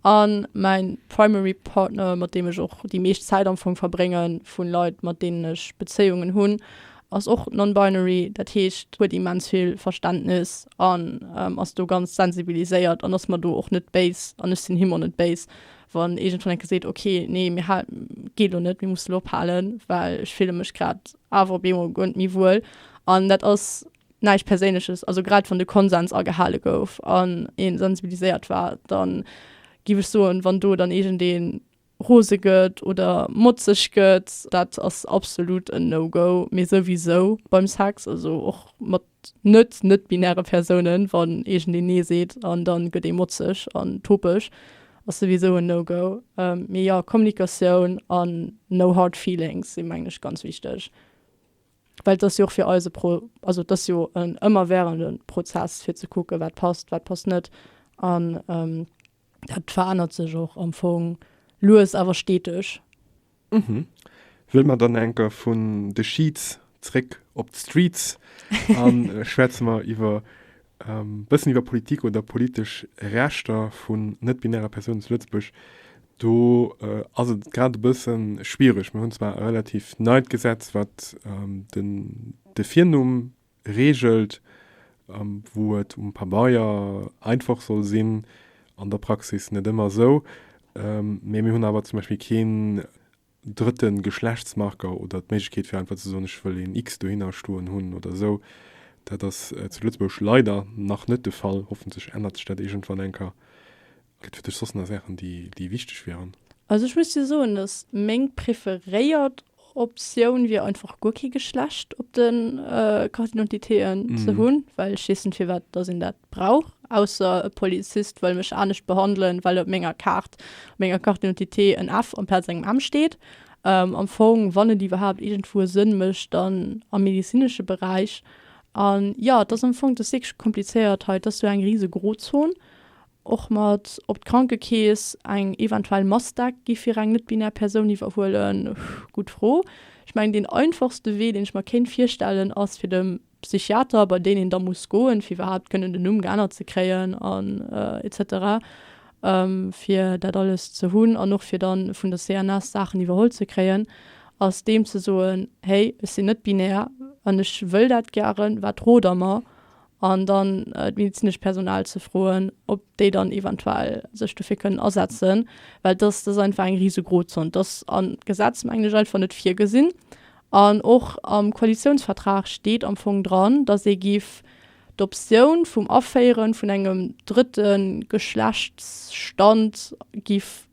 A mäin primary partner, mat deem ech och déi meescht Zäit am Fong verbrénge vu Leit, mat deenen ech Bezéiungen hunn, ass och non-binary, dat heescht huet immens vill Verständnis an ass do ganz sensibiliséiert an ass mer do och net béis an ech sinn him och net béis, wann iergendwann enke seet, okay, nee, mir hal, geet elo net, mir mussen elo ophalen, well ech fille mech grad awer op eemol guer net méi wuel an dat ass näischt Perséinleches, also grad wann de Konsens agehale gouf an ee sensibiliséiert war, da giff ech soen, wann do dann iergendee rose gëtt oder motzeg gëtt, dat ass absolut en No-Go, mee souwisou beim Sex, also och mat. net net-binäre Persounen, wann iergendeen nee seet an dann gëtt ee motzeg an topeg, ass souwisou en no-go. Mee jo, Kommunikatioun an no hard feelings si mengen ech ganz wichteg, well et ass jo och fir eis e Pro, also et ass jo en ëmmerwährenden Prozess fir ze kucken wat passt, wat passt net an Dat verännert sech och am Fong lues awer steteg. Mhm. Wëll mer dann enker vun de Sheets zréck op d'Streets a schwätze mer iwwer ähm, bëssen iwwer Politik oder politesch Rechter vun net-binäre Persounen zu Lëtzebuerg. Do äh, ass et grad e bësse schwiereg. Mir hunn zwar e relativ neit Gesetz, wat ähm, den, de Virnumm regelt, wou et um Pabeier einfach soll sinn, an der Praxis net ëmmer esou. Mee mir hunn awer zum Beispill keen drëtte Geschlechtsmarker oder d'Méiglechkeet fir einfach ze soen, ech wëll een X dohinner stoen hunn oder esou. Dat ass zu Lëtzebuerg leider nach net de Fall, hoffentlech ännert sech dat iergendwann eng Kéier. Gëtt fir dech soss nach Saachen, déi wichteg wieren? Also ech muss dir soen, dass meng preferéiert Optioun wier, einfach guer kee Geschlecht op de Carte d'identitéen ze hunn, well ech weess net, firwat dass een dat brauch, ausser e Polizist wëll mech anescht behandelen, well op menger Kaart, op menger Carte d'identité en F amplaz engem M steet. Am Fong, wann et iwwerhaapt iergendwou e Sënn mécht, dann am medezinesche Beräich. An jo, et ass am Fong, et ass wierklech komplizéiert hei, et ass sou eng rise Grozon. Och mat op d'Krankekeess eng eventuell Mastec gi fir eng net-binär Persoun iwwerhuelen? Gutt Fro. Ech mengen, deen einfachste Wee, deen ech mer kéint virstellen, ass fir dem Psychiater, bei deen een da muss goen, fir iwwerhaapt kënnen den Numm geännert ze kréien an etc. Fir dat alles ze hunn an och fir da vun der CNS Saachen iwwerholl ze kréien, ass deem ze soen, Hey, ech sinn net-binär an ech wëll dat gären, wat rot der mer? an dann d'medizinesch Personal ze froen, ob déi dann eventuell sech dofir kënnen asetzen, well dass ass einfach eng rise Grozon. Dass ass am Gesetz mengen ech einfach net virgesinn an och am Koalitiounsvertrag steet am Fong dran, dass ee géif d'Optioun vum Aféiere vun engem drëtte Geschlechtsstand géif.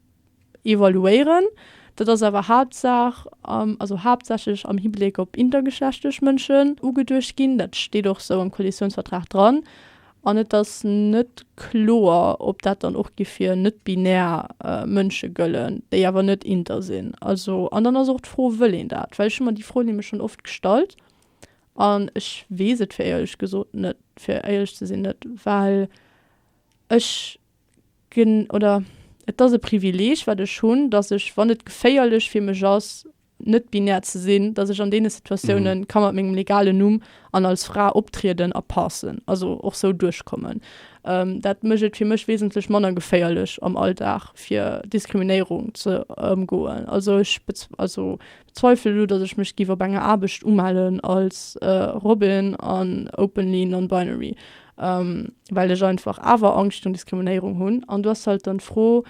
evaluéieren. Dat ass awer Haaptsaach, also haaptsächlech am Hibleck op intergeschlechtlech Mënschen ugeduecht ginn. Dat steet och esou am Koalitiounsvertrag dran. An et ass net kloer, ob dat dann och géif fir net-binär Mënsche gëllen, déi awer net inter sinn. Also, an dann ass och d'Fro, Wëll een dat? Well ech hu mer déi Fro nämlech schonn oft gestallt an ech weess et fir éierlech gesot net, fir éierlech ze sinn net, well ech, Gen oder et ass e Privileeg, wat ech hunn, dass ech, wann et geféierlech fir mech ass, net-binär ze sinn, dass ech an deene Situatiounen ka mat mengem legalen Numm an als Fra optrieden a passen, also och sou duerchkommen. Dat mécht et fir mech wesentlech manner geféierlech am Alldag, fir Diskriminéierung ze ëmgoen. Also ech bez also bezweifele lo, dass ech mech giff op enger Aarbecht umellen als Robyn an openly non-binary. well ech einfach awer Angscht un Diskriminéierung hunn an du ass halt dann d'Fro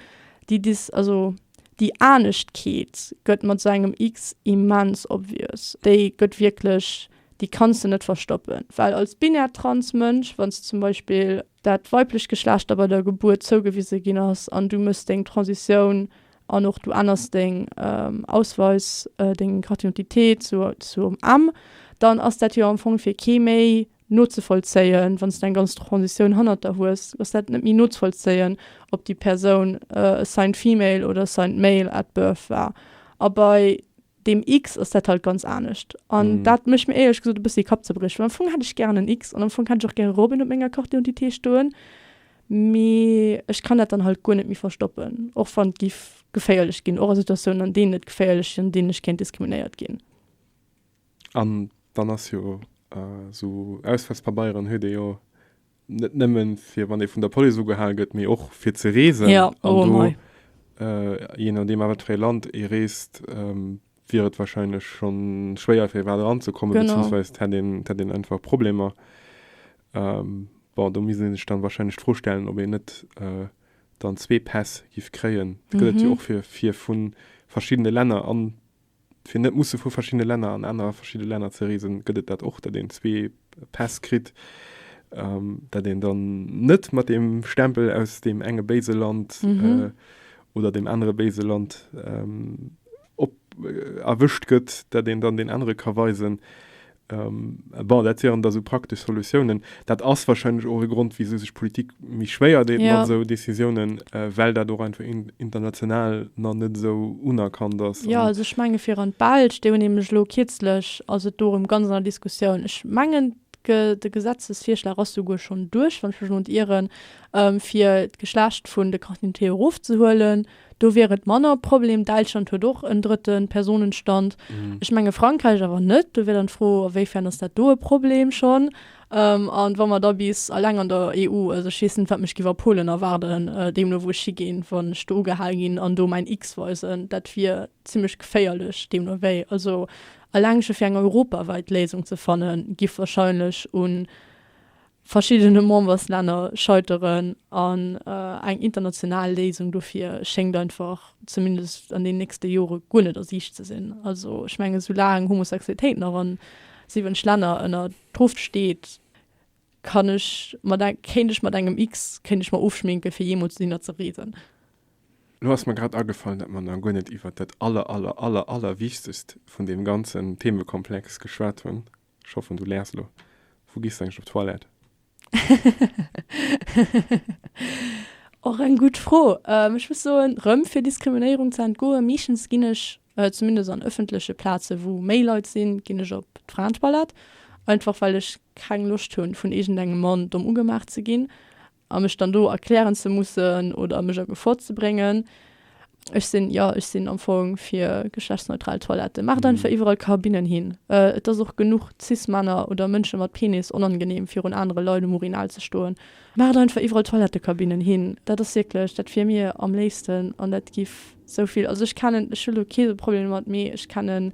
déi dis also déi Aneschtekeet gëtt mat sou engem X immens obvious, déi gëtt wierklech déi kanns de net verstoppen, well als binär trans Mënsch wann s de zum Beispill dat weiblecht Geschlecht der bei der Gebuert zougewise ginn ass an du méchs deng Transitioun an och du änners deng Ausweis deng Carte d'identité zur zum M, dann ass dat jo am Fong fir kee méi nozevollzéien, wann s de eng ganz Transitioun hannert der hues, ass dat net méi nozevollzéien, ob déi Persoun assigned female oder assigned male at birth war. A bei deem X ass dat halt ganz anescht. An dat mécht mir éierlech gesot e bëssi Kappzerbrieche, well am Fong hätt ech gären en X an am Fong hätt ech och gäre Robin op menger Carte d'identité stoen, mee ech kann dat dann halt guer net méi verstoppen, och wann et géif geféierlech ginn, och a Situatiounen, an deenen et geféierlech ass, an deenen ech kéint diskriminéiert ginn. An dann ass jo esou Ausweispabeieren huet ee jo net nëmmen fir wann ee vun der Police ugehal gëtt, mee och fir ze reesen. Ja, oh an mei. Do, je nodeem a wat fir ee Land ee reest, wier et wahrscheinlech scho schwéier fir iwwerhaapt eranzekommen, beziehungsweis et hätt een, et hätt een einfach Problemer. Bon, do misst ee sech dann wahrscheinlech d'Fro stellen, ob een net dann zwee Päss giff kréien. Dat gëtt et jo och fir, fir vu verschiddene Länner an. Fir net musse vu verschiddene Länner an aner verschidde Länner ze reesen, gëtt et dat och, datt een zwee Päss kritt, datt een dann net mat deem Stempel aus deem enge béise Land oder deem anere béise Land erwëscht gëtt, datt een dann deen anere ka weisen, Bon, dat wieren da sou praktesch Solutiounen. Dat ass warscheinlech och e Grond, wisou sech d'Politik méi schwéier deet mat esou Decisiounen, well dat och einfach international nach net esou unerkannt ass. Jo, also ech menge fir an d'Belsch, déi hunn nämlech elo kierzlech, ass et do erëm ganz an der Diskussioun. Ech mengen de Gesetzesvirschlag ass souguer schonn duerch, wann ech mech net iren, fir d'Geschlecht vun de Carte d'identité erofzehuelen. Do wier et manner e Problem. Däitschland huet och en drëtte Personenstand. Ech menge Frankräich awer net. Do wier dann d'Fro, a wéi fern ass dat do e Problem schonn? An wa mer da bis eleng an der EU, also ech weess net, wat mech géif a Polen erwaarden, deemno wou ech higinn, wann ech do ugehal ginn an do mäin X weisen, dat wier zimlech geféierlech. Deemno wéi, also eleng scho fir eng europawäit Léisung ze fannen, giff wahrscheinlech un. Verschiddene Memberslänner scheiteren an eng international Léisung dofir schéngt einfach, zumindest an den nächste Jore guer net a Siicht ze sinn. Also ech menge soulaang Homosexualitéit nach an 7 Länner ënner Truft steet, kann ech mat eng, kéint ech mat engem X, kéint ech mer ofschminken fir jeemools dohinner ze reesen. Lo ass mer grad agefallen, dat mer nach guer net iwwert dat aller aller aller allerwichtegst vun deem ganzen Themekomplex geschwat hunn, Ech hoffen du läers lo. Wou gees du eigentlech op d'Toilette? Och eng gutt Fro. Ech muss soen, rëm fir Diskriminéierung ze entgoen, meeschtens ginn ech, zumindest an ëffentleche Plazen, wou méi Leit sinn, ginn ech op d'Fraentoilette. Einfach well ech keng Loscht hunn, vun iergendengem Mann domm ugemaach ze ginn. a mech dann do erklären ze mussen oder mech a Gefor ze bréngen. Ech sinn, jo, ech sinn am Fong fir geschlechtsneutral Toiletten. Maacht einfach iwwerall Kabinnen hin. Et ass och genuch Cis-Männer oder Mënsche mat Penis onangeneem, virun anere Leit um Urinal ze stoen. Maacht einfach iwwerall Toilettekabinnen hin. Dat ass wierklech, dat wier mir am léifsten an dat giff esou vill, also ech kennen, ech hu lo kee Problem domat, mee ech kennen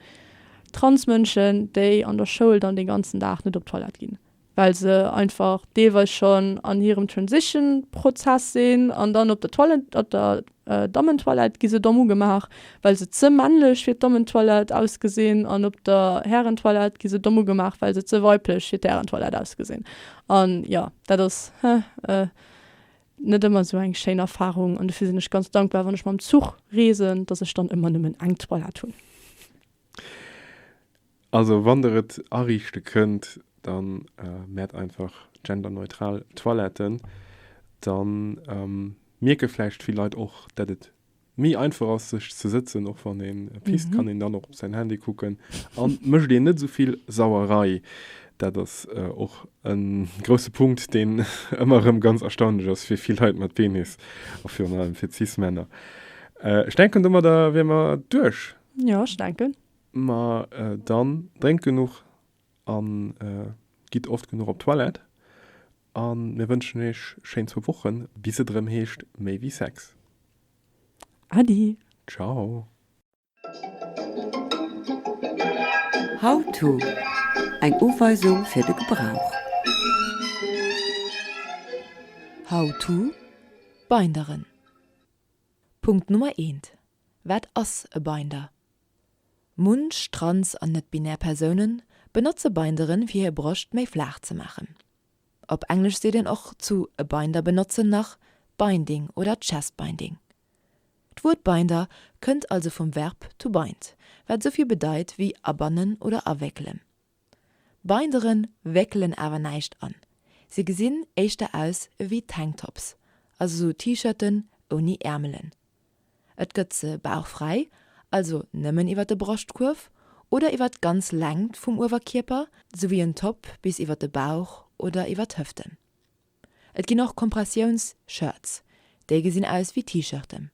Transmënschen, déi an der Schoul dann dee ganzen Dag net op d'Toilette ginn. well se einfach deelweis schonn an hirem Transition-Prozess sinn, an dann op der Toilette, op der Dammentoilette gi se domm ugemaach, well se ze männlech fir d'Dammentoilette ausgesinn, an op der Härentoilette gi se domm ugemaach, well se ze weiblech fir d'Härentoilette ausgesinn. An jo, dat ass, hä, net ëmmer esou eng schéin Erfarung, an dofir sinn ech ganz dankbar, wann ech mam Zuch reesen, dass ech dann ëmmer nëmmen eng Toilette hunn. Also wann der et ariichte kënnt, da mät einfach genderneutral Toiletten, da mierke vläicht vill Leit och dat et méi einfach ass sech ze sëtzen, och wann een pisst kann een dann och op säin Handy kucken an et mécht een net esou vill Sauerei. Dat ass och e grousse Punkt deen ëmmer erëm ganz erstaunlech ass fir vill Leit mat Penis a virun allem fir cis Männer. Ech denken domadder wier mer duerch. Jo, ech denken. Ma dann drénkt genuch a gitt oft genuch op d'Toilette. A mir wënschen iech schéin zwou Wochen, bis et erëm heescht Méi wéi Sex. Adi! Ciao! How-to, Eng Uweisung fir de Gebrauch. How-to, Binderen. Punkt Nummer eent. Wat ass e Binder? Munch trans an net-binär Persoune benotze Binderen, fir hir Broscht méi flaach ze maachen. Op Englesch seet een och zu e Binder benotzen nach binding oder chest binding. D'Wuert Binder kënnt also vum Verb to bind, wat esou vill bedeit wéi abannen oder awéckelen. Binderen wéckelen awer näischt an, se gesinn éischter aus ewéi Tanktops, also sou T-Shirten ouni Äermelen. Et gëtt se bauchfräi, also nëmmen iwwer de Broschtkuerf oder iwwer d'ganz Längt vum Uewerkierper, souwéi en Top bis iwwer de Bauch oder iwwer d'Hëften. Et ginn och Kompressiouns-Shirts, déi gesinn aus ewéi T-Shirten.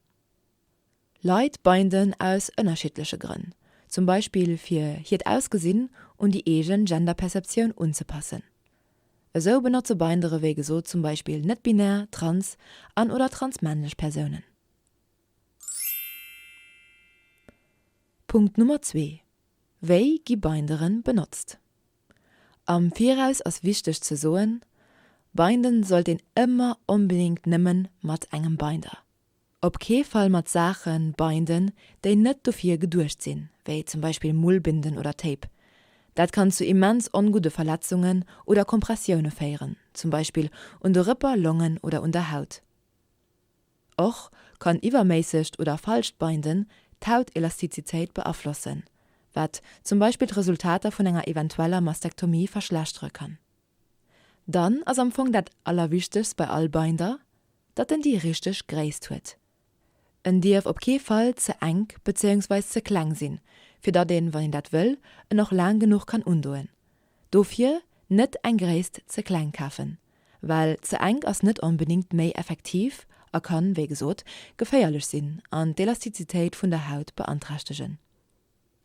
Leit binden aus ënnerschiddleche Grënn, zum Beispill fir hiert Ausgesinn un déi eegen Genderperceptioun unzepassen. Esou benotze Bindere wéi gesot zum Beispill net-binär, trans an oder transmännlech Persounen. Punkt Nummer zwee, Wéi gi Bindere benotzt? Am Viraus ass wichteg ze soen, Binden sollt een ëmmer onbedéngt nëmmen mat engem Binder. Op kee Fall mat Saache binden, déi net dofir geduecht sinn, wéi zum Beispill Mullbinden oder Tape. Dat kann zu immens ongudde Verletzungen oder Kompressioune féieren, zum Beispill un de Rëpper, Longen oder un der Haut. Och kann iwwerméissegt oder falscht Binden d'Hautelastizitéit beaflossen, wat zum Beispill d'Resultater vun enger eventueller Mastektomie verschlechtere kann. Dann ass am Fong dat allerwichtegst bei all Binder, datt en déi richteg Gréisst huet. En dierf op kee Fall ze enk bezéiungsweis ze kleng sinn, fir datt een, wann een dat wëll, en och laang genuch kann undoen. Dofir net eng Gréisst ze kleng kafen, well ze enk ass net onbedéngt méi effektiv a kann, wéi gesot, geféierlech sinn an d'Elastizitéit vun der Haut beanträchtegen.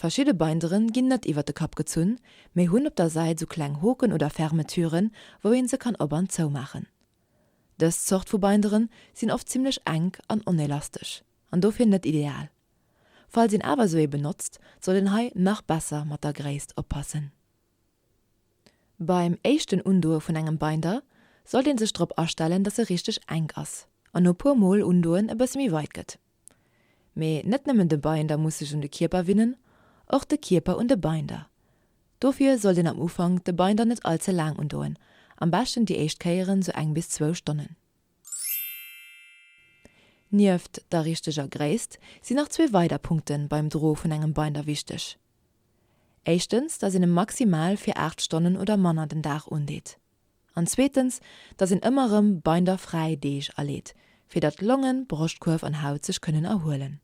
Verschidde Binderen ginn net iwwer de Kapp gezunn, mee hunn op der Säit sou kleng Hoken oder Fermetüren, wou een se kann op an zoumaachen. Dës Zort vu Binderen sinn oft zimmlech enk an onelastesch an dofir net ideal. Falls een awer sou ee benotzt, sollt een hei nach besser mat der Gréisst oppassen. Beim éischten Undoe vun engem Binder sollt een sech drop astellen, dass e richteg enk ass an no puer mol undoen e bësse méi weit gëtt. Mee net nëmmen de Binder muss sech un de Kierper winnen, och de Kierper un de Binder. Dofir sollt een am Ufank de Binder net all ze laang undoen, am beschten déi éischt Kéieren sou eng bis zwou Stonnen. Nieft der richteger Gréisst sinn nach zwee weider Punkte beim Dro vun engem Binder wichteg. Éischtens, dass een e maximal fir 8 Stonnen oder manner den Dag undeet. An zweetens, datt een ëmmer rëm Beinder fräi Deeg aleet, fir datt Longen, Broschtkuerf an Haut sech kënnen erhuelen.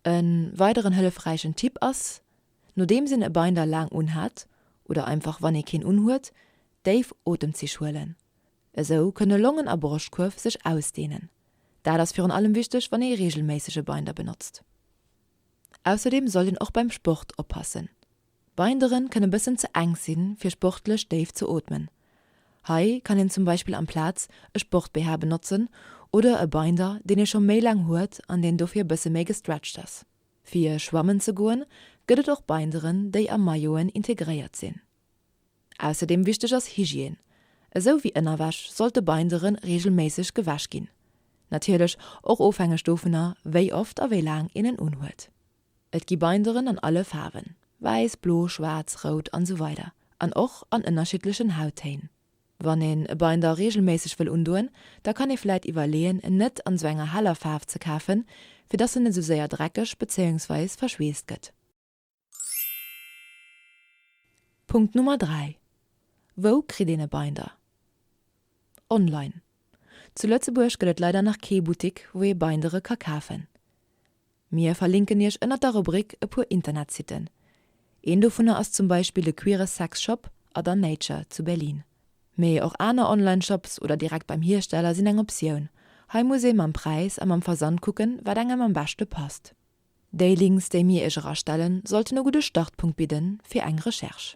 E weideren hëllefräichen Tipp ass, nodeems een e Beinder laang unhat, oder einfach wann ee keen unhuet, déif Otemzich huelen. Esou kënne Longen a Broschtkuerf sech ausdeenen. Dat ass virun allem wichteg, wann ee reegelméisseg e Beinder benotzt. Ausserdeem sollt een och beim Sport oppassen. D'Binderen kënne bëssen ze enk sinn fir sportlech déif ze ootmen. Hei kann een zum Beispill amplaz e Sport-BH benotzen oder e Binder deen ee scho méi laang huet an deen dofir bësse méi gestretcht ass. Fir schwammen ze goen gëtt et och Binderen déi a Mailloten integréiert sinn. Ausserdeem wichteg ass Hygiène. Esou wéi Ënnerwäsch sollt de Bindere reegelméisseg gewäsch ginn. Natierlech och ofhängeg dovunner wéi oft a wéi laang een en unhuet. Et gi Binderen an alle Faarwen, wäiss, blo, schwaarz, rout an esou weider an och an ënnerschiddlechen Hauttéin. Wann een e Binder reegelméisseg wëll undoen, da kann ee vläit iwwerleeën en net an esou enger heller Faarf ze kafen, fir dass en net esou séier dreckeg bezéiungsweis verschweesst gëtt. Punkt Nummer 3, Wou kritt een e Binder? Online. Zu Lëtzebuerg gëtt et leider nach kee Buttik wou ee Bindere ka kafen. Mir verlinken iech ënnert der Rubrik e puer Internetsitten. Een dovunner ass zum Beispill de Queere Sex Shop Other Nature zu Berlin. Mee och aner Online Shops oder direkt beim Hiersteller sinn eng Optioun. Hei muss ee mam Präis a mam Versand kucken, wat engem am beschte passt. Déi Links, déi mir iech erastellen, sollten e gudde Startpunkt bidden fir eng Recherche.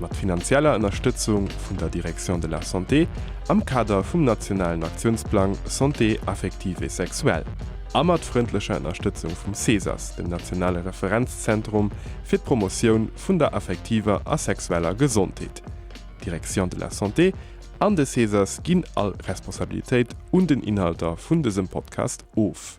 mat finanzieller Ënnerstëtzung vun der Direction de la Santé am Kader vum nationalen Aktiounsplang Santé affective et sexuelle a mat frëndlecher Ënnerstëtzung vum CESAS, dem nationale Referenzzentrum fir d'Promotioun vun der affektiver a sexueller Gesondheet. D'Direction de la Santé an de CESAS ginn all Responsabilitéit un den Inhalter vun dësem Podcast of.